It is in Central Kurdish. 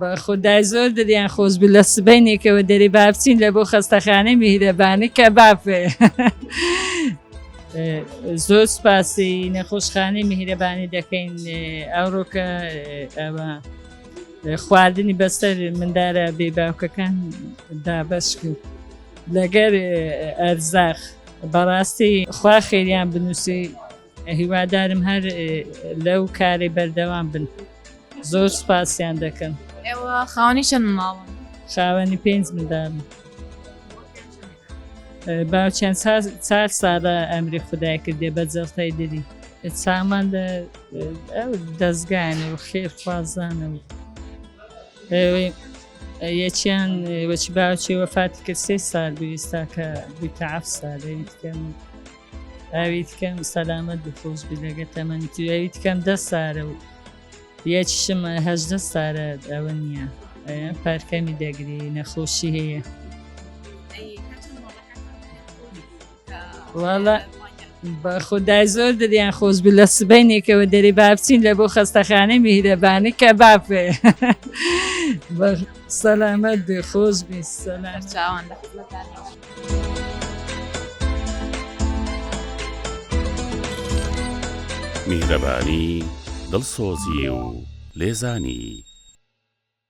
بەخودای زۆر دریان خۆش بوو لە سبەینێکەوە دەری بابچین لە بۆ خەستەخانەی میهرەبانی کە بافێ زۆر سپاسی نەخۆشخانەی میهرەبانی دەکەین ئەوڕۆکە ئەوە خواردنی بەسەر مندارە بێ باوکەکان دابش کرد لەگەر ئەرزاخ بەڕاستی خوا خێریان بنووسی هیوادارم هەر لەو کارەی بەردەوام بن زۆر سپاسیان دەکەم ئێوە خاوەنی چەند ماڵن خاوەنی پێنج مندان باوچیان چار ساڵە ئەمری خدای کردێ بە جەڵتای دری سامان لە ئەو دەستگانە و خێرخوازانە و یەکیان وەچی باوچی وەفاتی کرد سێ سال بویستا کە بوویتە عفسا لەویتکەم. ئاوی تکەم سەلامەت بخۆش بلەگە تەمەنی تو ئەوی تکەم دە سارە و یەکیشم هەژدە سارە ئەوە نییە پارکەمی دەگری نەخۆشی هەیە وڵە بە خودای زۆر دەریان خۆش بی لە سبینێکەوە دەری بابچین لە بۆ خەستەخانەی میرەبانی کە بافێ سەلامەت بێ خۆش بی سەلام چاوان. میهرەبانی، دڵسۆزی و لێزانی.